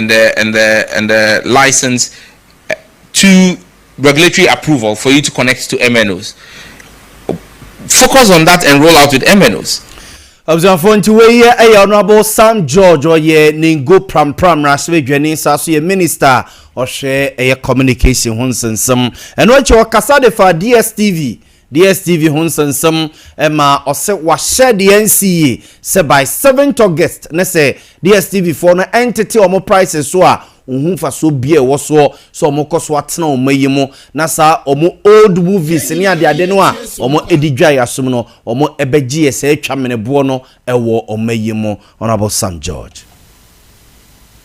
and the and the and the license eh, to regulatory approval for you to connect to MNOs. Focus on that and roll out with MNOs. abusuafoɔ nti wei yɛ ɛyɛ honourable sam george ɔyɛ nengo prampram mmarahyɛ badwani saa so yɛ minister a ɔhwɛ ɛyɛ communication ho nsensɛm ɛno akyi ɔkasa de fa dstv DSTV ho nsɛnsɛm ma ɔse wahyɛ de ansi yie sɛ by seventh August ne sɛ DSTV foɔ no ɛntete wɔn prices so a ɔnhu mfasoɔ bia ɛwɔ soɔ sɛ wɔn kɔ so atena wɔn mma yi mu na saa wɔn old movies ne adeade no a wɔn ɛdi dwae asom no wɔn ɛbɛgyeɛ sɛ atwa meneboɔ no ɛwɔ wɔn mma yi mu. Honourable Sam George.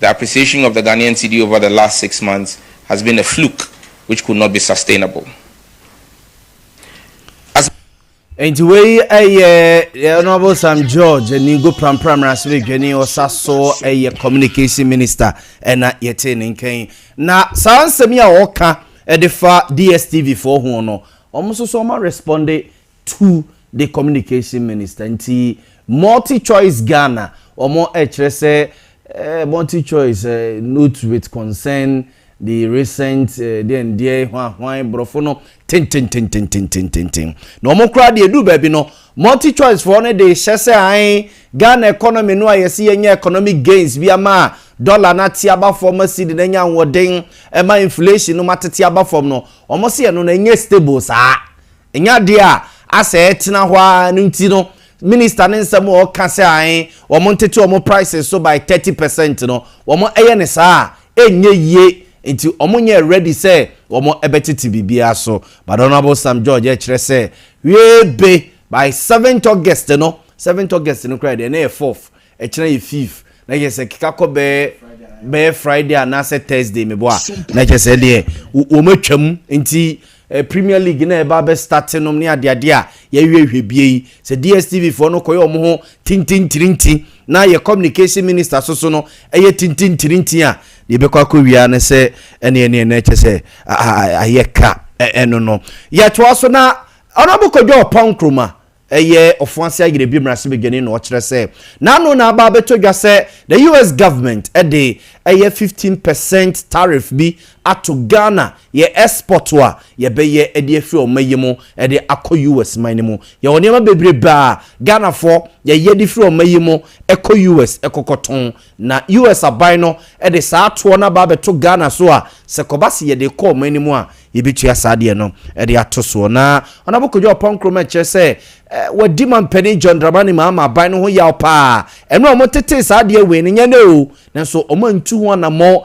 The appreciation of the Ghanaian cedi over the last six months has been a fluke which could not be sustainable. As. Nti wei ɛyɛ Honourable Sam George Aningo Prampra Mmarahyɛbadwani ɔsa so ɛyɛ communication minister ɛna yɛte ne nkɛn na saa nsɛm yi a ɔka ɛde fa DSTV foɔ ho no wɔn nso so wɔn responde tu de communication minister nti multi choice Ghana ɔmo ɛkyerɛ sɛ eh, multi choice eh, note with concern the recent eh, deɛn deɛ hwan hwan borɔfo no tententententententen na ɔmo koraa deɛ edu baabi no multi choice foɔ no de hyɛ sɛ an Ghana economy no a yɛsi yɛnyɛ economic gains bi ama a dollar no ate aba fam ma cedi no anya ahoɔden ma inflation no ma tete aba fam no wɔn se ɛno no ɛnyɛ stable saa Ɛnyɛ adeɛ a asɛ ɛtena hɔ ara no nti no minister no nsɛm a ɔka sɛ ae wɔn ntete wɔn prices so by thirty percent no wɔn ɛyɛ no saa a ɛnyɛ yie nti wɔn nyɛɛ ready sɛ wɔn ɛbɛtete biribiara so but Honourable Sam George ɛkyerɛ sɛ hwiee be by seventh August no seventh August no koraa deɛ na ɛyɛ fourth Ɛkyena yɛ fif na kyɛ sɛ keka kɔ bɛɛ bɛɛ Friday anaasɛ Thursday mebɔ a na kyɛ sɛ deɛ wɔn atwam nti eh, Premier League na ɛba bɛ start nom ne adeade a yɛhwehwɛ bie yi sɛ DSTV foɔ no kɔyɛ wɔn ho tintintirinti na yɛ communication minister so so no ɛyɛ tintintirinti a deɛ ɛbɛkɔ akɔ wia ne sɛ ɛne ɛne ɛne kyɛ sɛ ayɛ ka ɛno no yɛtoa so na ɔnabokɔdwa ɔpɔn nkroma Ɛyɛ Ofoase Ayerɛbi mmarahyɛbadwani na ɔkyerɛ sɛ n'ano na aba abɛtɔ dwa sɛ the US government de ɛyɛ fifteen percent tariff bi ato Ghana yɛ export a yɛbɛyɛ de afiri ɔma yi mu de akɔ US man no mu. Yɛwɔ nneɛma bebrebe a Ghanafoɔ yɛyɛ de firi ɔma yi mu kɔ US kɔkɔtɔn Na US aban no de saa toɔ no aba abɛto Ghana so a, sɛ kɔba se yɛde rekɔ wɔn anim a, yɛbɛtua saa deɛ no de ato soɔ. Na Honourable Kojo Apaw Nkrumah kyerɛ sɛ wɔadi Mampanin John Dramani Mahama aban no ho yaw paa. Ɛno a wɔtetee saa adeɛ wee no, nyɛ nnɛ o, nanso wɔantu ho anammɔn.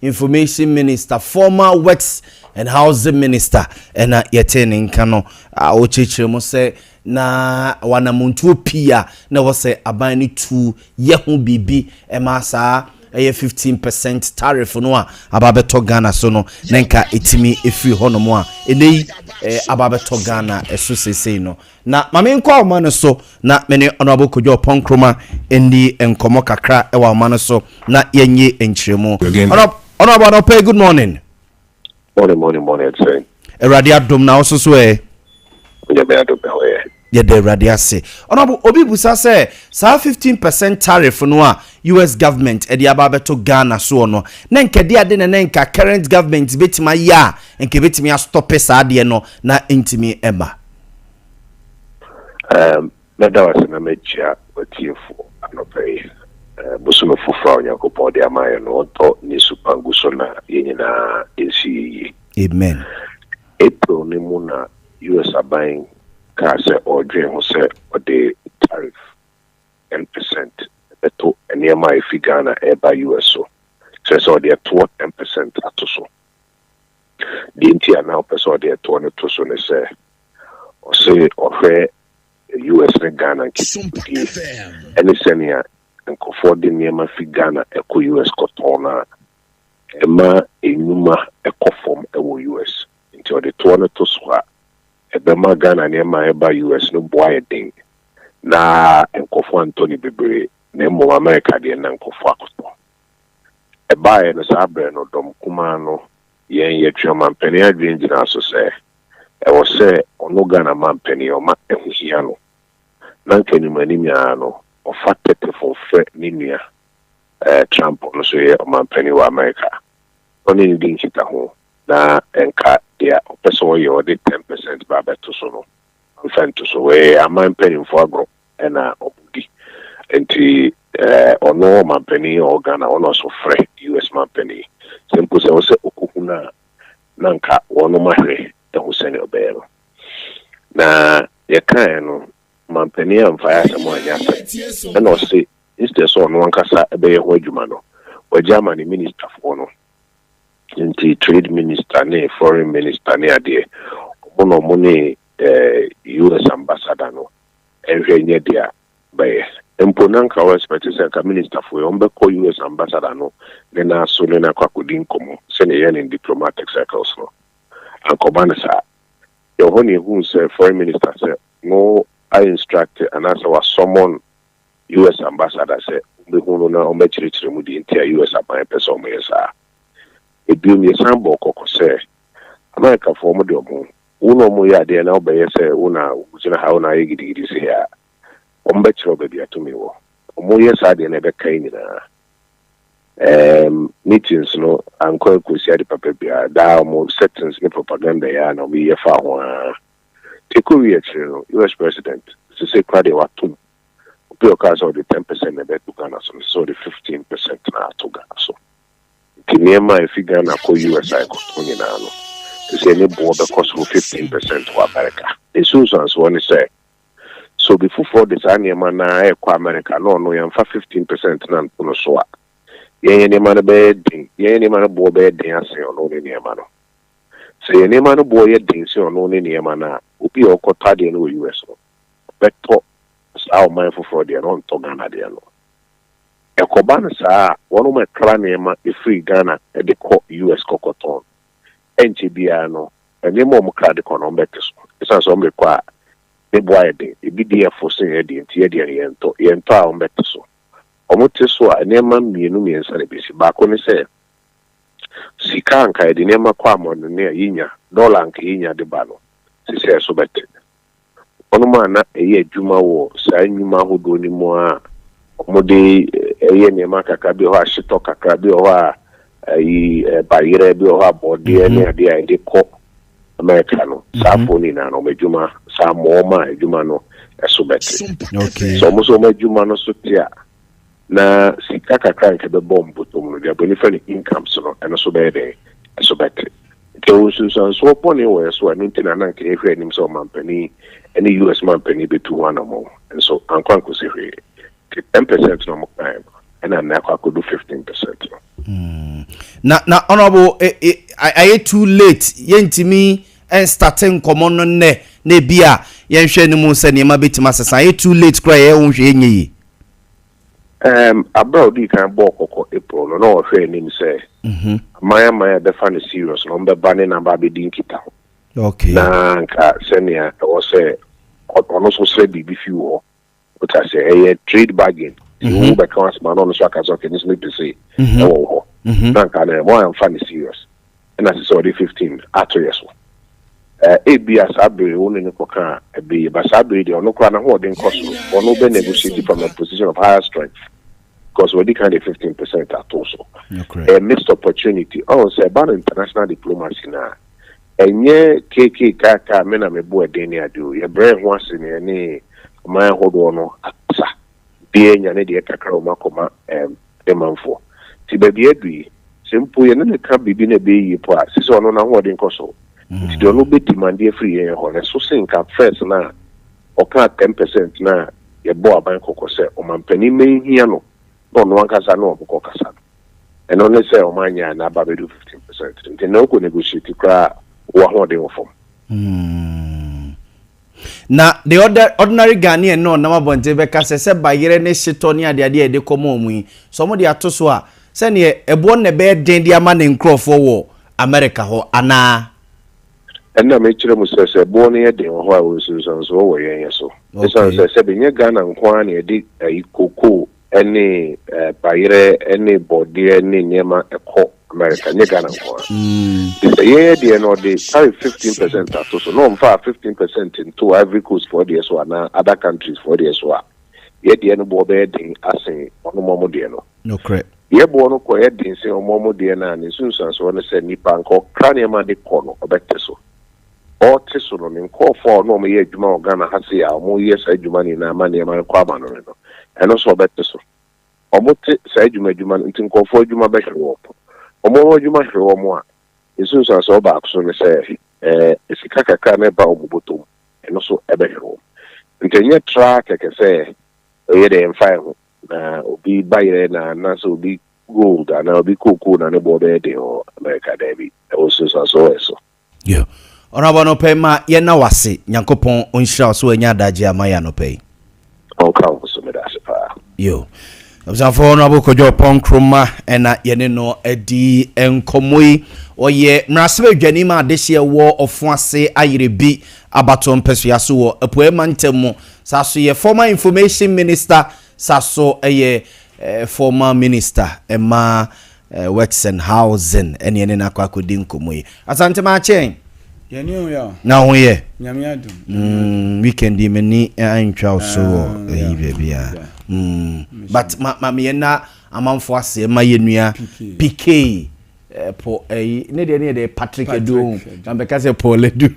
Information Minister, former Works and Housing Minister na yɛtee ne nka no a ɔrekyerɛkyerɛ mu sɛ na wɔ anammɔntuo pii a na ɛwɔ sɛ aban no tu yɛ ho biribi ma saa ɛyɛ 15 percent tariff no a aba abɛtɔ Ghana so no na nka ɛtumi firi hɔnom a ɛnɛ yi aba abɛtɔ Ghana so seesei no. Na ma menkɔ ahoma no so na me ne Honourable Kojo Oppong Nkrumah nni nkɔmmɔ kakra wɔ ahoma no so na yɛnyi nkyerɛmu. Honourable anɔpa yi, good morning. Morning, morning, morning, ɛte sɛn? Awurade adom, na wo nso so ɛ? Onyame adom, me ho yɛ. Yɛda Awurade ase. Honourable, obi busa sɛ saa 15 percent tariff no a US government de aba abɛto Ghana soɔ no, na nka ɛde ade na na nka current government bɛtumi ayɛ a, nka ɛbɛtumi astɔpe saa adeɛ no na ɛntumi mma. Um, mɛda wo ase na mɛkyia w'atiefo anɔpa yi. Uh, bosome foforɔ a Onyankopɔn de ama yɛ no, ɔdɔ ne su pa gu so na yɛn nyinaa nsi yɛ yie. Amen. April no mu na US aban kaa sɛ ɔredwen ho sɛ ɔde tariff 10 percent bɛto nneɛma a efi Ghana ɛreba US so, kyerɛ sɛ ɔde ɛtoɔ 10 percent ato so. Deɛ nti a na ɔpɛ sɛ ɔde ɛtoɔ no to so ne sɛ, ɔse ɔhwɛ US ne Ghana nkitahodie ne sɛnea nkurɔfoɔ de nneɛma fi Ghana kɔ US kɔtɔn no a, ɛma nnwuma kɔ fam wɔ US. Nti ɔde toɔ no to so a, ɛbɛma Ghana nneɛma a ɛba US no bo ayɛ den na nkurɔfoɔ antɔ no bebree, na mmom Amerika deɛ na nkurɔfoɔ akɔtɔ. Ɛbaeɛ no saa berɛ no dɔm kumaa no, yɛn yɛtwe ɔmampanin adwene gyinaa so sɛ ɛwɔ sɛ ɔno Ghana mampanin ɔma ɛho hia no. Na anka anim anim ara no ɔfa tɛtɛfon frɛ ne nua eh, Trump ɔno nso yɛ ɔmampanin wɔ Amerika. Ɔne no di nkitaho na ɛnka deɛ ɔpɛ sɛ ɔyɛ ɔde ten percent ba abɛto so no, ɔmfa nto so. Wɔyɛ yɛn aman mpanimfoɔ agorɔ. na ɔmo di nti ɔno ɔmanpanin a ɔwɔ Ghana ɔno ɔso frɛ US manpanin sɛ mpo sɛ ɛwɔ sɛ ɔkɔ hu no a na nka wɔnom ahwɛ ahu sɛnea ɔbɛyɛ no na deɛ kaeɛ no manpanin amfaeɛ asɛm anyɛ asɛm ɛna ɔse instead sɛ ɔno ankasa ɛbɛyɛ ho adwuma no wagya ama ne ministerfoɔ no nti trade minister ne foreign minister ne adeɛ ɔmo na ɔmo ne US ambassador no nhwɛ nyɛ deɛ a bɛyɛ mpo na nka wo expect sɛ nka minister foɔ yi wɔn bɛkɔ US ambassador no ne no aso ne no akɔ akɔdi nkɔmɔ sɛnea ɛyɛ ne diplomatic circles no ankɔba no saa yɛ hɔ na ehu sɛ foreign minister sɛ no a instruct anaasɛ wa summon US ambassador sɛ wɔbɛhu no na wɔbɛkyerɛkyerɛ mu deɛ nti a US aban pɛ sɛ wɔyɛ saa ebiom yɛsan bɔɔ kɔkɔ sɛ Amerikafoɔ wɔn de wɔn Wo ne wɔn yɛ adeɛ na wobɛyɛ sɛ wo na wogyina ha, wo na woayɛ gidigidi sei a, wɔbɛkyerɛ wo baabi a tumi wɔ. Wɔyɛ saa deɛ na ɛbɛka yɛn nyinaa. Ɛɛm, meetings no ankɔ ankɔsi ade papa biara. Daa wɔn settings ne propaganda yi ara na wɔyeyɛ faa ho ara. Nti ɛkɔwieeɛ akyire no, US President, seesei koraa deɛ watom. Obi a ɔkaa sɛ ɔde ten percent na ɛbɛto Ghana so no, seesei ɔde fifteen percent na ato Ghana so. Nti nneɛma a ɛfi Ghana kɔ US a ɛkɔtɔn nyinaa no, seesei ne boɔ bɛkɔ soro 15 percent wɔ Amerika. Ne nsunsuansoɔ ne sɛ, sɛ obi foforɔ de saa nneɛma no ara rekɔ Amerika na ɔno yɛmfa 15 percent no nto no so a, yɛn yɛn nneɛma no bɛyɛ den, yɛn yɛn nneɛma no boɔ bɛyɛ den asen ɔno ne nneɛma no. Sɛ yɛn nneɛma no boɔ yɛ den sen ɔno ne nneɛma no a, obi a ɔkɔtɔ adeɛ no wɔ US no, ɔbɛtɔ saa ɔman foforɔ deɛ no, ɔntɔ Ghana deɛ no. Ɛkɔba no saa a, wɔnom ɛkra nneɛma firi Ghana de kɔ US kɔkɔtɔn. Ɛnkyɛ biara no, nneɛma a wɔkra de kɔ no, wɔbɛte so. Ɛsiane sɛ wɔde kɔ a, ne bo ayɛ den. Ebi deɛ yɛ fo sen yɛdeɛ nti, yɛdeɛ no yɛntɔ. Yɛntɔ a, wɔbɛte so. Wɔte so a, nneɛma mmienu mmiɛnsa na ɛbɛsi. Baako ne sɛ, sika a anka yɛde nneɛma kɔ amɔnɔne a yɛnya, dɔla a anka yɛnya de ba no, seesei ɛso bɛte. Wɔnom a na ɛyɛ adwuma wɔ saa nnwuma ahodoɔ no mu a wɔde yɛ nneɛma kakra, bi wɔ hɔ a hyetɔ kakra, bi wɔ hɔ a ayi bayerɛ, bi wɔ hɔ a bɔɔdeɛ ne adeɛ a yɛde kɔ Amerika no, saa afoɔ no nyinaa no wɔn adwuma saa mmoa wɔn a adwuma no ɛso bɛte. Sɛ wɔn nso wɔn adwuma no so te a, Na sika kakra a nka ɛbɛbɔ mbotom no, deɛ bɔ nifa ne incomes no, ɛno so bɛyɛ dɛn? Ɛso bɛte. Nti ɛwɔ nsunsuansoɔ bɔne wɔ yɛ so a, ɛno nti na na nka yɛhwɛ anim sɛ ɔmampanin ne US mampanin bɛtu ho anamɔn. Nso ankɔ ankɔsi hwee. Nti ten percent na wɔn kaeɛ no, ɛna nnɛ akɔ akɔdu fifteen percent no. Mm. Na, na honorable, e, e, ayɛ too late, yɛntumi ɛnstate nkɔmmɔ no nnɛ, na ebi a yɛnhwɛ no mu sɛ nneɛma bɛtumi asesa, ayɛ too late koraa yɛyɛ wo nhwɛ yɛnyɛ yie. Um, abere a odii kan bɔɔ kɔkɔ April no, na ɔhwɛ anim sɛ mhm. aman aman a ɛbɛfa no serious na ɔmbɛba ne naba abɛdi nkitaho. Na nka sɛnea ɛwɔ sɛ ɔno nso srɛ biribi fi wɔ hɔ. Wota sɛ ɛyɛ trade bargain. Ti mhm. wo bɛka asoma na ɔno nso aka sɛ ɔkɛ ne nso mepɛ se mhm. ɛwɔ hɔ. Na nka na ɛmɔ amfa no serious. na ɛsɛ sɛ ɔde fifteen ato yɛn so. Ɛɛ, ebia saa bere wo ne no kɔka ɛbɛ yi, ba saa bere yi deɛ ɔno koraa n'ahoɔden kɔ soro, ɔno bɛ negotiate from a position of higher strength because wɔdi kan de fifteen percent ato so. Ɛyɛ missed opportunity. Ɔn sɛ ɛba no international diplomacy na ɛnyɛ kk kaka me na me bo ɛden ne ade o, yɛbrɛ yɛn ho ase na yɛne aman ahodoɔ no akasa. obiara anya ne deɛ kakra a wɔakɔma ɛɛm ne manfoɔ. Nti baabi a adu yi, sɛ mpo yɛne no ka biribi na ɛbɛyɛ yie mpo a, ɛsɛ sɛ ɔno n'ahoɔden kɔ soro. Nti deɛ ɔno bɛdimande afiri yɛn hɔ no, ɛso sen ka first no a ɔkaa ten percent no a yɛbɔɔ aban kɔkɔ sɛ ɔmampanin mma nhia no na ɔno ankasa ne wɔn kɔkasa no. Ɛno ne sɛ wɔanyɛ a na aba abɛdu fifteen percent. Nti nnɛ wokɔ negotiate koraa a, wowɔ ahoɔden wɔ fam. Na the other ordinary Ghanaian no ɔnam abɔnten bɛka sɛ sɛ bayerɛ ne setɔ ne adeade a yɛde kɔma wɔn yi, sɛ wɔde ato so a, sɛdeɛ ɛboɔ no na ɛbɛyɛ den de ama ne nkorɔfoɔ wɔ Amerika hɔ anaa? Ɛnna mekyerɛ mo sɛ, sɛ ɛboɔ no yɛ den wɔ hɔ a, nsunsuansoɔ wɔ yɛn yɛ so. Esiane Okay. sɛ, sɛbe, nyɛ Ghana nko ara na yɛde ayi, cocoa, ne bayerɛ ne bɔɔdeɛ ne nneɛma ɛkɔ America nyɛ Ghana nko ara nti sɛ yɛn deɛ no ɔde tariff fifteen percent ato so na ɔmfa fifteen percent nto Ivory Coast foɔ deɛ so anaa other countries foɔ deɛ so a yɛ deɛ no boɔ bɛyɛ den asen ɔnom ɔmo deɛ no nokorɛ yɛ boɔ no kɔ yɛ den sen ɔmo ɔmo deɛ no a ne nsunsuansoɔ no sɛ nipa nka ɔkra nneɛma de kɔ no ɔbɛte so. ɔte so no, ne nkurɔfoɔ a ɔne wɔn yɛ adwuma wɔ Ghana ha sei a wɔyɛ saa adwuma no nyinaa ma nneɛma no kɔ amanɔne no, ɛno nso wɔbɛte so. Wɔte saa adwuma adwuma no nti nkurɔfoɔ adwuma bɛhwe wɔn. Wɔn wɔn adwuma hwe wɔn a, nsunsuansoɔ baako so ne sɛ ɛɛ sika kakra no ɛba wɔn bɔtɔ mu, ɛno nso ɛbɛhwe wɔn. Nti ɛnyɛ tra kɛkɛ sɛ ɛyɛ dɛ yɛmfa yɛn ho na obi bayerɛ na anaasɛ obi gold anaa obi kookoo na ne boɔ bɛyɛ den wɔ America, daabi, ɛwɔ nsunsuansoɔ wɔ ɛso. Yo. Ɔnoabo anɔpa yi ma yɛ na wase nyankopɔn ɔnhyira wo so wanya adagye ama yɛ anɔpa yi. Ɔnka wo so meda ase paa. Yo. Abusuafo ɔnoabo kɔdwo pɔnkroma ɛna yɛne no adi nkɔmmɔ yi ɔyɛ mmerasebɛ dwani ma adehyeɛ wɔ ɔfo ase ayere bi abato mpɛsoa so wɔ apuae mantam mu saa so yɛ former information minister saa so ɛyɛ eh, former minister ɛma eh, Wechsenhausen ne yɛne no akɔ akɔdi nkɔmmɔ yi. Asante Maakyen! Yɛn ani ho yɛ o. Na ho yɛ? Nyame adom. Mm, weekend yi m'ani antwa wo so wɔ ah, ayi baabi a. Mm, but ma ma meyɛ na amanfo aseɛ ma yɛnua PK eh, po ayi eh, ne deɛ ne yɛ deɛ Patrick Edu na mbɛka sɛ Paul Edu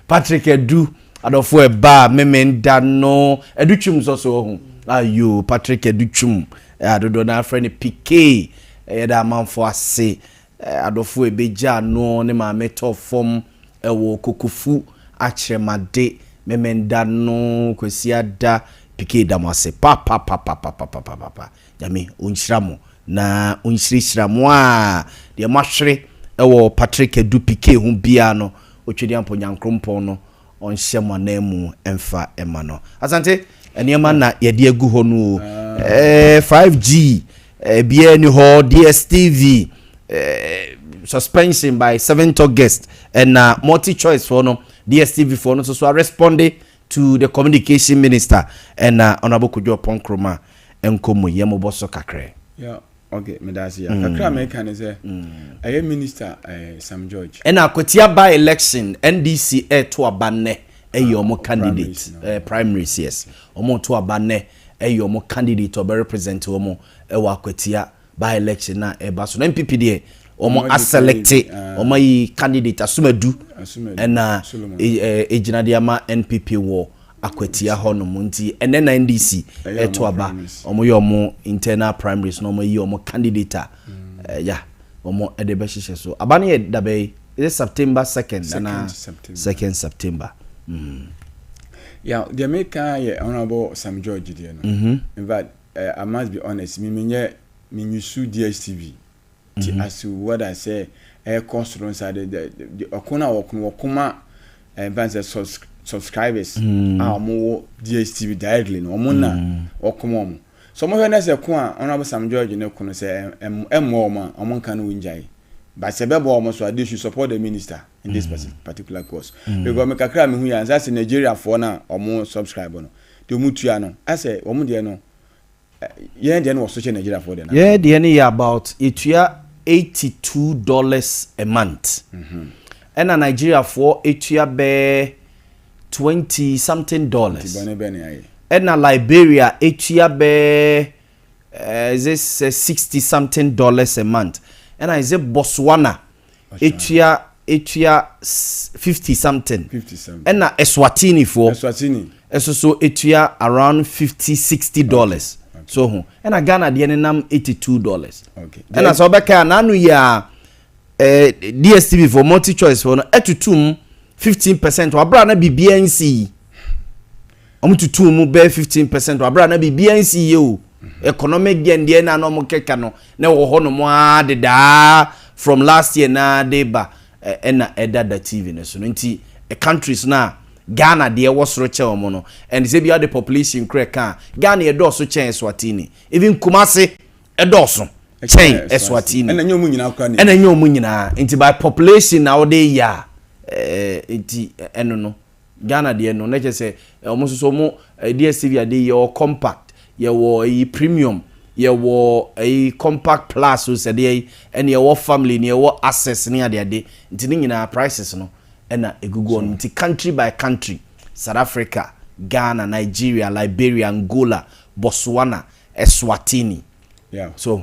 Patrick Edu Adɔfo ɛba a memen da no ɛdu twum nsɔ so ɔho ayo Patrick ɛdu twum adodoɔ na afrɛ ne pikee ɛyɛ da amanfo ase adɔfo ɛbɛ gya no ne maame tɔ fɔm ɛwɔ kokofu akyerɛmade memen da no kwasi ada pikee da mo ase papapapapapapapa nyame ɔnhyira mo Na Onhyirahyira mo aa deɛ moahwere wɔ Patrick Adu Pikee ho biaa no Otwedeampɔ Nyankrompɔn no ɔnhyɛ mo ananmu mfa ma no. Asante nneɛma na yɛde agu hɔ no oo, eh, 5G, eh, biaa ni hɔ, DSTV, eh, suspension by 7th August, ɛna multi choice foɔ no, DSTV foɔ no nso so aresponde To the communication minister ɛna honourable Kojo Oppong Nkrumah nkɔ mu yɛ mobɔ so kakrɛ. Ya ok meda ase ya kakra a meka ne sɛ ɛyɛ minister eh, Sam George. Ɛna akwatia by election NDC ɛɛto aba nnɛ ɛyɛ ɔmo Ah, candidate primaries no. ɛɛ primaries yes ɔmo to aba nnɛ ɛyɛ ɔmo candidate ɔbɛ represent ɔmo ɛwɔ akwatia By election na ɛba so na NPP deɛ wɔn asɛlɛkte wɔn ayi candidate asomadu ɛna egyina deɛ ama NPP wɔ akwatia hɔ nom nti ɛnɛ na NDC ɛto aba wɔn yɛ wɔn internal primaries na wɔn ayi wɔn candidate a ɛya. Yeah. wɔn de bɛhyehyɛ so aba no yɛ dabɛ yi yɛ september second ana second september. Mm. Yeah, deɛ meka yɛ honourable sam george deɛ no mm-hmm. in fact Eh I must be honest me menyɛ me usu DSTV nti as to whether sɛ ɛkɔ soro nsa de de ɔko no a wɔko no wɔko ma eh, mfa sɛ subscribers mm. a wɔn wɔ DSTV directly no wɔn na mm. wɔko ma wɔn so wɔn hwɛ ne sɛ ko a Honourable Sam George ne ko no sɛ ɛmmɔ wɔn a wɔn nka no wɔn gyae but sɛ bɛbɔ wɔn so a they should support the minister in this mm. particular course because me kakra me hu yɛ ansa sɛ Nigeria foɔ na wɔn subscribe no. deɛ ɔmo tua no asɛ ɔmo deɛ no yɛn deɛ no wɔ so kyɛ Nigeria foɔ deɛ no. Yɛn deɛ no yɛ about yɛtua eighty two dollars a month ɛna Nigeria foɔ tua bɛɛ twenty something dollars. Nti bɔne bɛn na yɛayɛ? Ɛna Liberia tua bɛɛ ɛɛ is it sixty something dollars a month ɛna is it Botswana. etua etua fifty something ɛna eswatini foɔ ɛso so etua around fifty sixty dollars so ho ɛna ghana deɛ ne nam eighty two dollars ɛna sɛ ɔbɛka a n'ano yɛ a eh, dstv foɔ multi choice foɔ no ɛtutum fifteen percent wɔ abira na biribiara nsi yi. Wɔtutuu mu bɛyɛ 15 percent wɔ abere a na biribiara nsi yie o. Economic deɛ deɛ na na wɔkeka no na ɛwɔ hɔ nom ara dedaa from last year na de ba ɛna ɛda da TV no so no nti countries no a Ghana deɛ ɛwɔ soro kyɛ wɔn no and sɛ bi ɔde population kura ɛka a Ghana ɛdɔɔso kyɛn Eswatini even Kumasi ɛdɔɔso kyɛn Eswatini ɛna nyɛ wɔn nyinaa kura ne ɛna nyɛ wɔn nyinaa nti by population na wɔde yɛ a ɛɛ nti ɛno no Ghana deɛ no na kyerɛ sɛ wɔn nso so wɔn DSTV adeɛ yi yɛwɔ compact yɛwɔ ɛyi premium yɛwɔ ɛyi compact plus o sɛdeɛ yi ɛna yɛwɔ family na yɛwɔ access ne adeade nti ne nyinaa prices no ɛna egugu wɔn nti country by country South Africa Ghana Nigeria Liberia Angola Botswana Eswatini yeah. so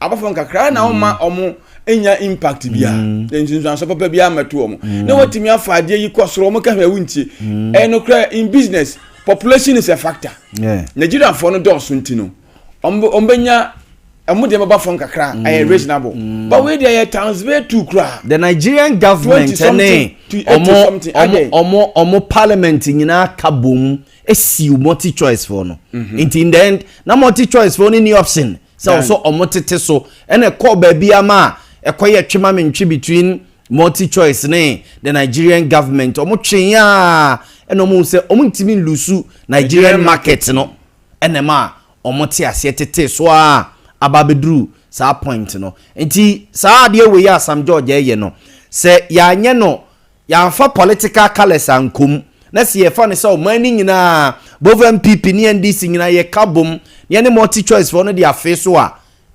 abɔfo nkakra na wɔn ma mm. wɔn nya impact bi a mm. nsunsuanso papa bi amɛto wɔn mm. na wɔtumi afa adeɛ yi kɔ soro wɔn kɛhwɛ ɛwu ntie ɛno kora in business population is a factor nigerianfoɔ no dɔɔso nti no wɔn bɛnya ɛmu deɛ bɛba fam kakra ɛyɛ reasonable but wei deɛ yɛ times way two kura. the nigerian government ne ɔmo ɔmo ɔmo ɔmo parliament nyinaa ka bom esi multi choice fo no nti in the end na multi choice fo no ni option. Mm -hmm. sɛ wɔn so wɔn tete so ɛna ɛkɔɔ baabi ama a ɛkɔyɛ twe ma me ntwe between multi choice ne the nigerian government wɔn twe a ɛna wɔn sɛ wɔn ntumi nlusu nigerian market no ɛna ma wɔn te aseɛ tete so a aba abɛduru saa point no nti saa adeɛ wei a sam george ɛyɛ no sɛ yɛanyɛ no Yɛamfa political colours ankɔ mu, na sɛ yɛfa no sɛ ɔman no nyinaa, both NPP ne NDC nyinaa yɛka bom na yɛne multi choice foɔ no de afee so a,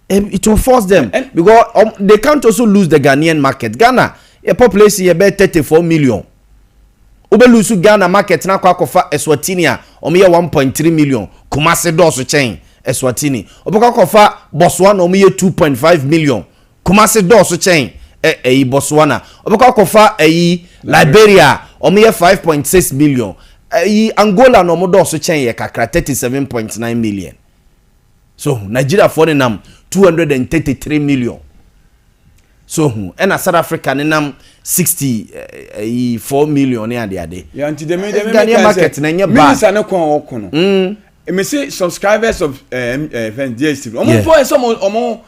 it will force them because they can't also lose the Ghanaian market. Ghana yɛ population yɛ bɛyɛ 34 million. Wobɛ lose Ghana market no akɔ akɔfa Eswatini a wɔyɛ 1.3 million, Kumasi dɔɔso kyɛn Eswatini. Wobɛkɔ akɔfa Botswana a wɔyɛ 2.5 million. Kumasi dɔɔso kyɛn ɛ ɛyi Botswana ɔbɛkɔ akɔfa ɛyi Liberia ɔmo yɛ five point six million ɛyi Angola no ɔmo dɔɔso kyɛn yɛ kakra thirty seven point nine million so hu Nigeria foɔ ne nam two hundred and thirty three million so hu ɛna South Africa ne nam sixty ɛyi four million ne ade ade ya nti dɛm dɛm Ghanaian market na ɛnyɛ bad minister ne kɔn ɔkɔ no mm. mesi subscribers of ɛɛ eh, ɛɛ eh, fɛn DSTV ɔmo mpɔ ɛsɛ ɔmo ɔmo.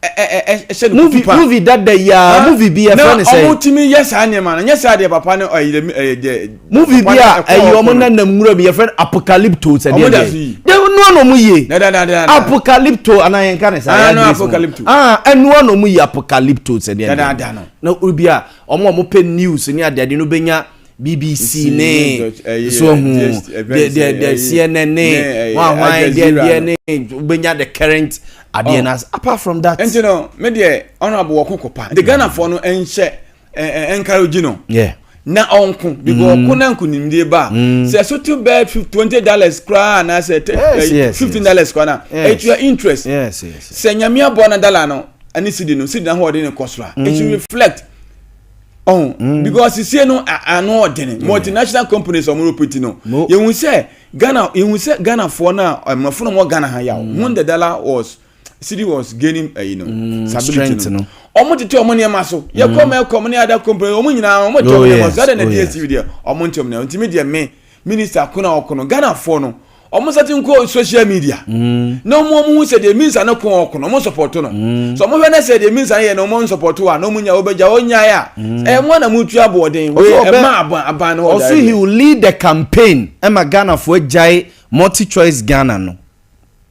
ɛhyɛ no kutu pa. Movie dada yi a, movie bi ɛfrɛ ne sɛ. Na wɔn tumi yɛ saa nneɛma no, nyɛ saa deɛ papa no ɛyɛ ɛyɛ deɛ. Movie bi a ɛyɛ wɔn nanam nwura mu yɛfrɛ no apocalypto sɛ deɛ deɛ. De nua na wɔn yie. Apocalypto ana yɛn ka ne saa. Ah no apocalypto. Ah ɛnua na wɔn yie apocalypto sɛ deɛ deɛ. Na obi a wɔn a wɔn pɛ news ne adeade no bɛ nya BBC ne so hu deɛ deɛ deɛ CNN ne wahwan deɛ deɛ ne wobɛnya the current adeɛ oh. no apart from that. nti no me deɛ honorable wɔ koko pa de ghanafoɔ no nhyɛ encourage no. Yeah na ɔnko because mm. ɔko na nkunimdie ba a mm. sɛ so to bɛɛ twenty dollars koraa anaasɛ eh, fifteen dollars koraa na etua interest sɛ nyamea bɔ na dollar no ɛne sidi no sidi na ahoɔden no kɔ soro a it mm. reflect ɔn mm. because sisie no ano ɔdene mm. multinational companies ɔmo repeti no yɛhu sɛ ghana yɛhu sɛ ghanafoɔ no a mmorɔfo no wɔ ghana ha yɛ mm. when the dollar was city was gaining ɛyi no stability no ɔmo tete ɔmo nneɛma so yɛkɔ mɛ kɔ ɔmo ne ada company ɔmo nyinaa ɔmo tɛ ɔmo nneɛma so ɛdɛ na dsc deɛ ɔmo ntɛ ɔmo nneɛma ntumi deɛ me. Minister ko na ɔko no Ghana foɔ no ɔmo nsa ti nkɔ social media mm. na ɔmo ɔmo hu sɛ deɛ minsa no ko ɔko no ɔmo nsɔpɔto no mm. so ɔmo hwɛ ne sɛ deɛ minsa no yɛ no ɔmo nsɔpɔto a na ɔmo nya ɔbɛgya ɔnyae a mm. ɛyɛ mo na mo tu aboɔden ɛma aban aban no ɔso he will lead the campaign ɛma Ghana foɔ agyae multi choice Ghana no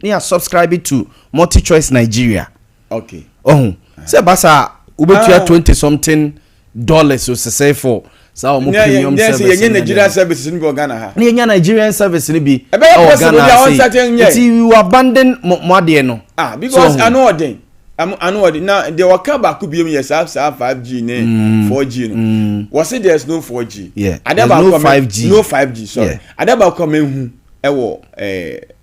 ne yɛ subscribe to multi choice Nigeria okay ɔho sɛ basa wobɛtua ah. twenty something. dollars osesɛe for saa wɔn premium service no yɛnyɛ nigerian services no bi wɔ ghana ha na yɛnya nigerian service no bi ɛwɔ ghana ase nti you abandon mo adeɛ no ah because ano ɔden ano ɔden na deɛ wɔka baako bi mu yɛ saa saa five g ne mm. four g no mm. wɔsi there is no four g adeɛ baako no five g sorry adeɛ baako a mehu ɛwɔ ɛɛ.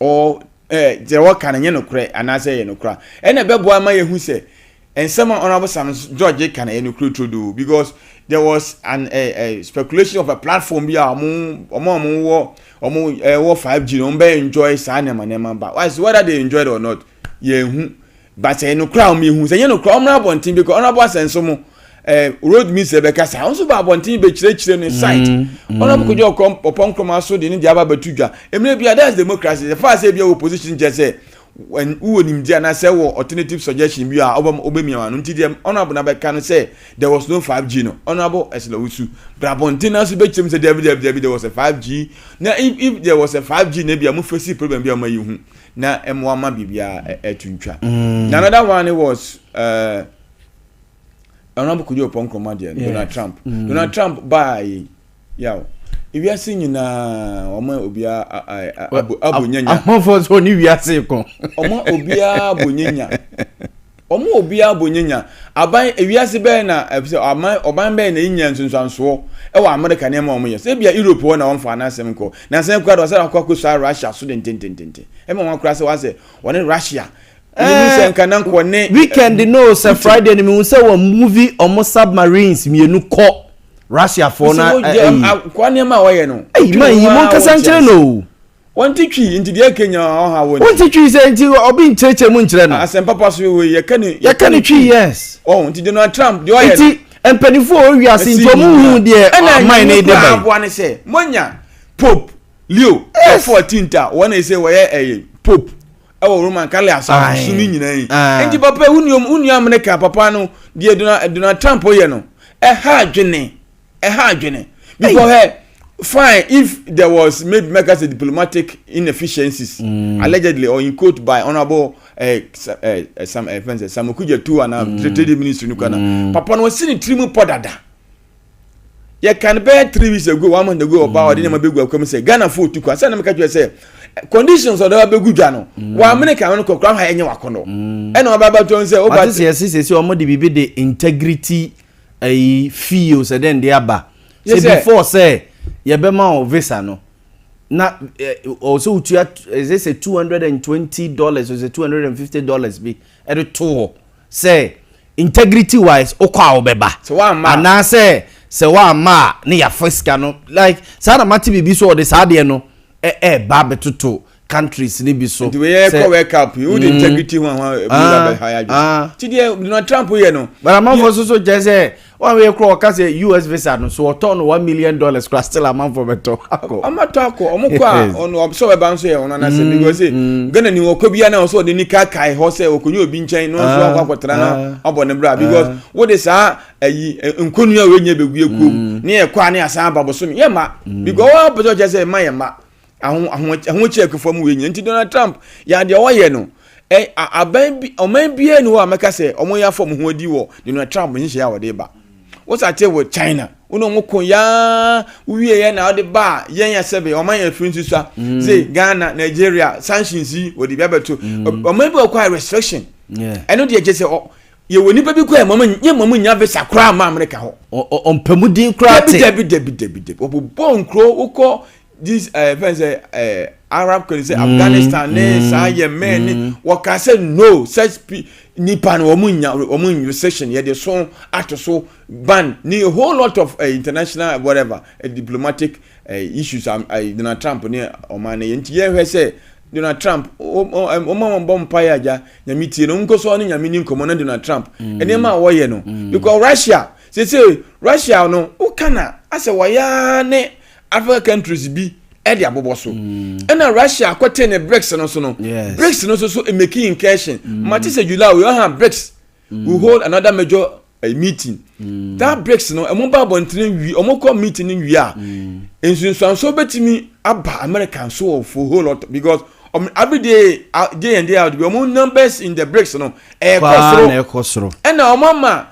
ɔ ɛɛ deɛ wɔka no nyɛ nokorɛ anaasɛ ɛyɛ nokorɛ a ɛna ɛbɛboa ama yɛhu sɛ nsɛm a honourable sam george ka no ɛyɛ nokorɛ turodoo because there was an a, a speculation of a platform bi a wɔn wɔn a wɔwɔ wɔn ɛwɔ five g no wɔn bɛ enjoy saa nneɛma nneɛma ba why so whether they enjoy it or not yɛn hu but ɛyɛ no kora wɔn ehu sɛ ɛnyɛ no kora wɔn abɔnten bɛkɔ ɔno abɔ asɛnso mo ɛɛ eh, road minister bɛka saa wɔn nso ba abɔnten bɛkyerɛkyerɛ no site mm, mm. ɔno abɔ kodwa ɔkɔ ɔpɔ nkoroma so de ne deɛ aba bɛtu dwa emire bi a that's democracy the fact sɛ ebi a wɔ position kyɛ sɛ wowɔ nimdeɛ anaasɛ wɔ alternative suggestion bi a wobɛmia wa no nti deɛ ɔnabo no bɛka no sɛ there was no 5g no ɔnabo ɛsla wo su bra abɔnten no so bɛkyerɛm sɛ dabi dabi dabi there was a 5g na if, if there was a 5g na bi a mofɛsi problem bi a ɔma yi hu na mmoa ma biribiara ɛto ntwa mm. na another one was uh, honorable kudi ɔpɔ nkurɔmɔ adeɛ yes. donald trump mm. donald trump baa yi yaw wiase nyinaa wɔn obiara abo nyanya amafo nso ne wiase kɔ wɔn obiara abo nyanya. Wɔn a obiara bɔ nyanya. Aban, wiase bɛn na, ɛfiri sɛ, aman, ɔman bɛn na enya nsunsuansoɔ wɔ Amerika nneɛma a wɔyɛ so? Ebia Europe hɔ na wɔmfaa n'asɛm nkɔ. Nnansa yi koraa de, wɔsan akɔ akɔsua Russia so dendendenden. Ɛma wɔn koraa sɛ wɔayɛ sɛ wɔne Russia. Ɛɛ, Menim sɛ nka na nka wɔne eh, weekend no o, sɛ Putin. Friday no, mehu sɛ wɔn move wɔn submarines mmienu kɔ Russiafoɔ no Mesɛ a, wɔyɛ, ayi. a, nkoa nneɛma a wɔyɛ no, Ei, wotwene man ho yi, ara a monkasa nkyerɛ wɔnte no ase. o. Wɔnte twi, nti deɛ ɛkɛ nya ɔha wɔ nti. Wɔnte twi sɛ nti ɔbi nkyerɛkyerɛ mu nkyerɛ no. Asɛmpa pa so wei yɛkɛ no twi. Yɛkɛ no twi yes. Ɔho nti Donald Trump deɛ ɔyɛ no. Nti mpanifoɔ wɔ wiase nti ɔmo nhu deɛ aman no de ba yi. Ɛna nyame koraa aboa no sɛ moanya Pope Leo the 14th a wɔn na ɛsɛ wɔyɛ ɛyɛ Pope ɛwɔ Roman Catholic asɔre so no nyinaa yi. Nti papa wunua America papa no deɛ Donald Trump yɛ no ɛha adwene. ɛha adwene because hey, fine if there was maybe make us a diplomatic inefficiencies mm. allegedly or in quote by honourable uh, eh, uh, eh, uh, eh, some uh, friends uh, Sam Okudja too and um, mm. trade ministry no kana mm. papa no wasi ne tiri mu pɔ dada yɛ kan bɛyɛ three weeks ago one month ago ɔbaa ɔde nneɛma bɛgu akɔm sɛ Ghana fo otu kwan sɛ ɛnam kɛtɛ sɛ conditions ɔdɔ wa bɛgu dwa no mm. wa amene kan no kɔkura ha ɛnyɛ wakɔnɔ mm. ɛna ɔbaa bɛtɔ nsɛ ɔbaa ti. ɔte sɛ ɛsi sɛ sɛ wɔn de biribi de integrity ɛyi fie o sɛ dɛn de aba sɛ before sɛ yɛbɛma o visa no na ɔwɔ sɛ wotua ɛsɛ sɛ two hundred and twenty dollars o sɛ two hundred and fifty dollars bi ɛde to hɔ sɛ integrity wise okɔ a ɔbɛba anaasɛ sɛ wamma a ne yafa sika no like saa na mate biribi so ɔde saa deɛ no ɛɛba bɛtoto. countries ni bi so. nti wei yɛ kɔ world cup yi o de mm. integrity ho ahoa ebi na bɛ ha yadwo. ti deɛ donald trump yɛ no. bana amanfo soso kyerɛ sɛ wɔn a wɔyɛ kura ɔka sɛ us visa no so ɔtɔ no one million dollars kura still amanfo bɛ tɔ akɔ. ɔmo atɔ akɔ ɔmo kɔ a ɔno ɔbɛsɛ ɔbɛba nso yɛ ɔno anase mm, because eh, mm. ghana ni ɔkɔ bi anaa ɔsɛ ɔde ni kaakae hɔ sɛ ɔkɔnyɛ obi nkyɛn na ɔnso ah, akɔ akɔtena na ah. ɔbɔ ne bra ah. because wɔde saa ayi eh, eh, nkonnwa a wɔnyɛ bɛgu ekuo mu ne yɛ kɔ a ne asan aba bosom yɛ ma because wɔn apɛsɛ ɔkyɛ sɛ ɛma yɛ ma. ahokyerɛ akufoɔ mu wei nyina nti donald trump yɛ adeɛ ɔyɛ no aban bi ɔman biara ni hɔ a mɛka sɛ wɔn yɛ afɔ wɔn ho adi wɔ donald trump nhyehyɛ a wɔde ba wosa te wɔ china wɔn a wɔn ko yaa wie yɛ na ɔde ba yɛn yɛ sɛbe ɔman yɛ firi nsusua mm. se ghana nigeria sanctions yi wɔde bi abɛto mm. ɔman bi ɔkɔ a restriction ɛno deɛ gye sɛ ɔ yɛwɔ nipa bi kɔ yɛ mɔmu nyɛ mɔmu nya visa koraa ma amerika hɔ ɔmpɛmudin koraa te dabi dabi dabi dabi dabi ɔbobɔ nkuro wokɔ this ɛɛ eh, fɛn sɛ ɛɛ eh, arab country sɛ mm, afghanistan ne mm, saa yemen ne mm. wɔka sɛ no such nipa no wɔn nya wɔn recession yɛde so ato so ban ne a whole lot of uh, international whatever uh, diplomatic uh, issues um, uh, donald trump ne ɔman ne yɛn ti yɛhwɛ sɛ donald trump ɔma wɔn bɔ mpa yɛ agya nyame tie no nkoso ɔne nyame ne nkɔmɔ ne donald trump nneɛma a wɔyɛ no because russia sese russia no woka na asɛ wɔyɛ ne. Africa countries bi ɛde abobɔ so mm. ɛna Russia akɔte ne BRICS no so no BRICS no so so making incursion mm. mate sɛ July we ɔha BRICS mm. we hold another major uh, meeting mm. that BRICS no ɛmo ba abɔntene wie ɔmo kɔ meeting no wie a mm. nsunsuanso betumi aba America nso wɔ for whole lot because ɔmo everyday uh, day in day out bi ɔmo numbers in the BRICS no ɛkɔ soro ɛna ɔmo ama.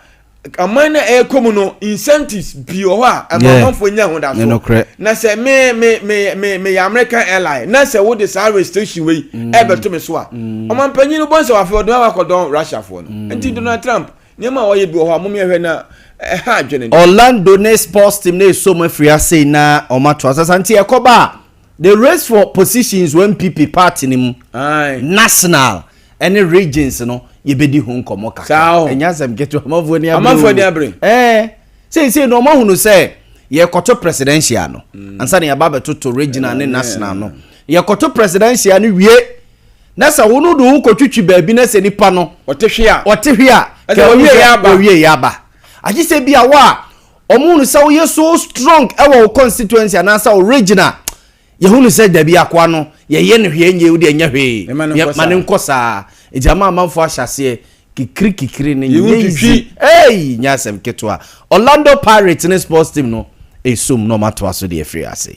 aman na ɛkɔ mu no incentives pii wɔ hɔ a ɛma amanfoɔ nya ahodasoɔ na sɛ me me me me meyɛ american airline na sɛ wode saa restriction wei mm. ɛbɛto me so a mm. ɔmampanyin no bɔ nsɛ wafei ɔdɔn wakɔdɔn russiafoɔ no mm. nti donald trump nneɛma a ɔyɛ bi wɔ hɔ a mom yɛhwɛ na ɛha adwene orlando ne sports team na ɛso mu afiri ase na ɔmato asasa nti ɛkɔba a the race for positions wɔ mpp party no mu national ɛne regions no yɛbɛdi ho nkɔmmɔ kakra ɛnyɛ asɛm ketewa amanfoɔ ni abere amanfoɔ ni abere ɛɛ seesei no ɔma hunu sɛ yɛkɔto presidential no mm. ansa na yɛba bɛtoto regional ne national no yɛkɔto presidential no wie na sɛ wo no de ho kɔtwitwi baabi na sɛ nipa no ɔte hwe a ɔte hwe a ɔwie yɛ aba agye sɛ bi a wɔ a ɔmo hunu sɛ woyɛ so strong ɛwɔ wo constituency anaasɛ wo regional Yɛhunu sɛ dabi akoa no yɛyɛ no hwee nyɛ wode ɛnyɛ hwee ma ne nkɔ saa nti ama amanfoɔ ahyɛ aseɛ kikiri kikiri no nyɛ easy ei nyɛ asɛm ketewa Orlando Pirates ne sports team no ɛsum na ɔmatoa so deɛ ɛfiri ase